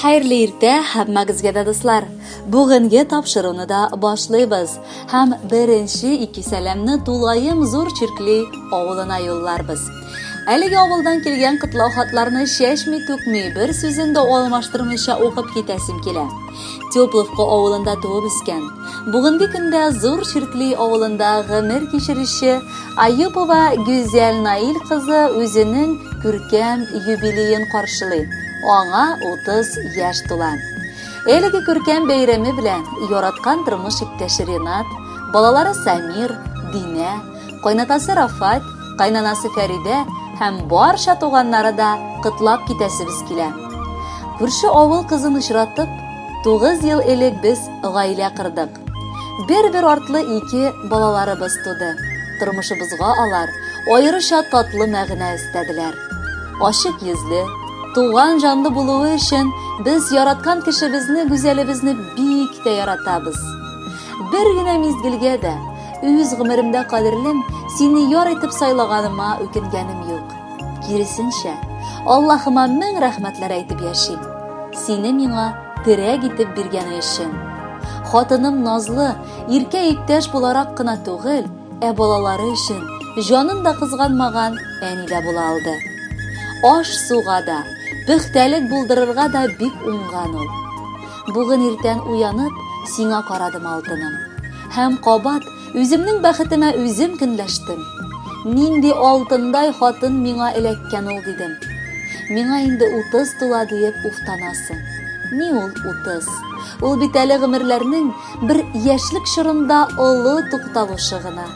Хәерле иртә һәммәгезгә дә дуслар. Бүгенге тапшыруны да башлыйбыз һәм беренче ике сәламне тулаем зур чиркли авылына юлларбыз. Әлеге авылдан килгән котлау хатларны чәчми түкми, бер сүзен дә алмаштырмыйча укып китәсем килә. Тепловка авылында туып үскән. Бүгенге көндә Зур Чиркли авылында гомер кичерүче Аюпова Гүзәл Наил кызы үзенең күркәм юбилеен каршылый. Аңа 30 яшь тула. Әлеге күркәм бәйрәме белән яраткан тормыш иптәше Ренат, балалары Самир, Динә, Кайнатасы Рафат, кайнанасы Фәридә һәм барча туганнары да кытлап китәсебез килә. Күрше авыл кызын очратып, 9 ел элек без гаилә кырдык. Бер-бер артлы ике балаларыбыз туды. Тормышыбызга алар аеруча татлы мәгънә өстәделәр. Ачык йөзле, туган җанлы булуы өчен без яраткан кешебезне, Гүзәлебезне бик тә яратабыз. Бер генә мизгелгә дә Үз гомеремдә кадерлем, сине яр итеп сайлаганыма үкенгәнем юк. Киресенчә, Аллаһыма мең рәхмәтләр әйтеп яшим. Сине миңа терәк итеп биргәне өчен. Хатыным Назлы, иркә иптәш буларак кына түгел, ә балалары өчен җанын да кызганмаган әни дә була алды. Аш суга да, пөхтәлек булдырырга да бик уңган ул. Бүген иртән уянып, сиңа карадым, алтыным. Һәм кабат үземнең бәхетемә үзем көнләштем. Нинди алтындай хатын миңа эләккән ул дидем. Миңа инде 30 тула диеп уфтанасың. Ни ул 30? Ул бит әле гомерләрнең бер яшьлек чорында олы тукталышы гына.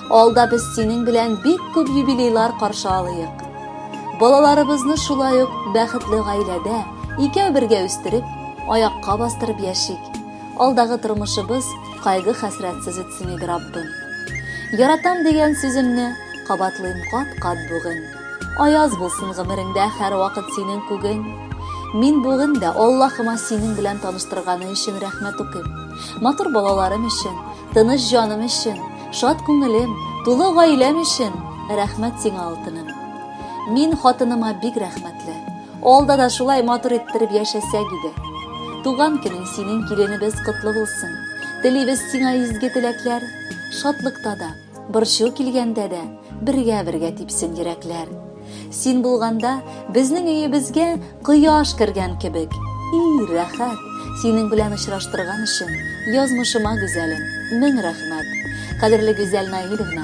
Алда без синең белән бик күп юбилейлар каршы алыйк. Балаларыбызны шулай ук бәхетле гаиләдә икәү бергә үстереп, аякка бастырып яшик. Алдагы тормышыбыз кайгы-хәсрәтсез үтсен иде, Раббым. Яратам дигән сүземне кабатлыйм кат-кат бүген. Аяз булсын гомереңдә һәрвакыт синең күгең. Мин бүген дә Аллаһыма синең белән таныштырганы өчен рәхмәт укыйм. Матур балаларым өчен, тыныч җаным өчен, шат күңелем, тулы гаиләм өчен рәхмәт сиңа, алтыным. Мин хатыныма бик рәхмәтле. Алда да шулай матур иттереп яшәсәк иде. Туган көнең синең киленебез котлы булсын. Телибез сиңа изге теләкләр, шатлыкта да, борчу килгәндә дә бергә-бергә типсен йөрәкләр. Син булганда безнең өебезгә кояш кергән кебек. И, рәхәт! Синең белән очраштырган өчен язмышыма гүзәлем, мең рәхмәт. Кадерле Гүзәл Наилевна,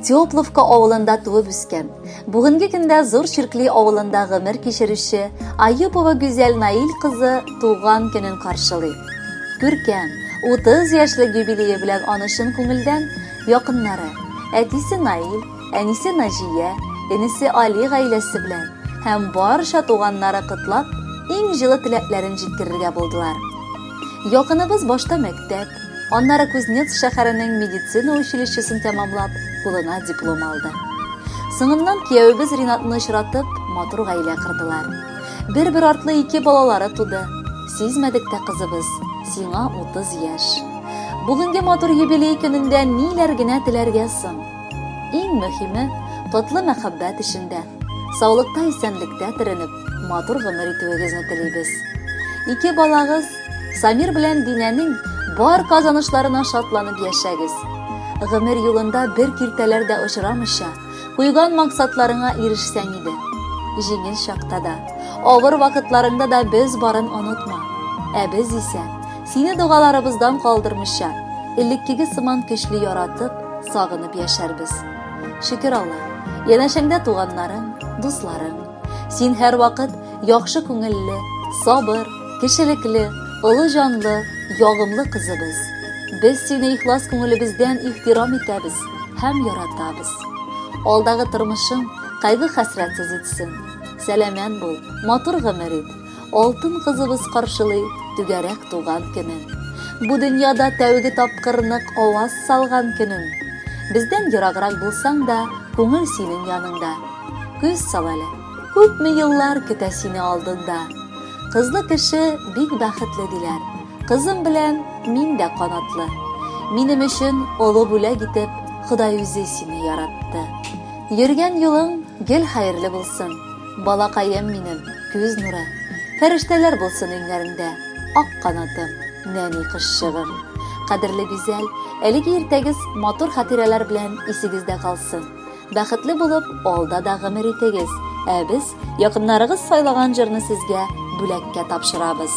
Тепловка авылында туып үскән. Бүгенге көндә Зур Чиркли авылында гомер кичерүче Аюпова Гүзәл Наил кызы туган көнен каршылый. Күркәм, 30 яшьлек юбилее белән аны чын күңелдән якыннары, әтисе Наил, әнисе Наҗия, энесе Али гаиләсе белән һәм барча туганнары котлап, иң җылы теләкләрен җиткерергә булдылар. Якыныбыз башта мәктәп, Аннары Кузнецк шәһәренең медицина училищесын тәмамлап, кулына диплом алды. Соңыннан киявебез Ринатны очратып, матур гаилә кырдылар. Бер-бер артлы ике балалары туды. Сизмәдек тә кызыбыз, сиңа 30 яшь. Бүгенге матур юбилей көнендә ниләр генә теләргә соң? Иң мөһиме, котлы мәхәббәт эчендә, саулыкта-исәнлектә төренеп, Матур гомер итүегезне телибез. Ике балагыз Самир белән Динәнең бар казанышларына шатланып яшәгез. Гомер юлында бер киртәләр дә очрамыйча, куйган максатларыңа ирешсәң иде. Җиңел чакта да, авыр вакытларыңда да без барын онытма. Ә без исә сине догаларыбыздан калдырмыйча, элеккеге сыман көчле яратып, сагынып яшәрбез. Шөкер Алла, янәшәңдә туганнарың, дусларың, Син һәрвакыт яхшы күңелле, сабыр, кешелекле, олы җанлы, ягымлы кызыбыз. Без сине ихлас күңелебездән ихтирам итәбез һәм яратабыз. Алдагы тормышың кайгы хәсрәтсез үтсен. Сәламәт бул, матур гомер ит. Алтын кызыбыз каршылый түгәрәк туган көнен. Бу дөньяда тәүге тапкыр нык аваз салган көнен. Бездән ераграк булсаң да, күңел синең яныңда. Күз сал әле, күпме еллар көтә сине алдында. Кызлы кеше бик бәхетле диләр. Кызым белән мин дә канатлы. Минем өчен олы бүләк итеп Ходай үзе сине яратты. Йөргән юлың гел хәерле булсын. Балакаем минем, күз нуры, Фәрештәләр булсын өйләреңдә, Ак канатым, нәни кошчыгым. Кадерле Гүзәл, әлеге иртәгез матур хатирәләр белән исегездә калсын. Бәхетле булып, алда да гомер итегез. Ә без якыннарыгыз сайлаган җырны сезгә бүләккә тапшырабыз.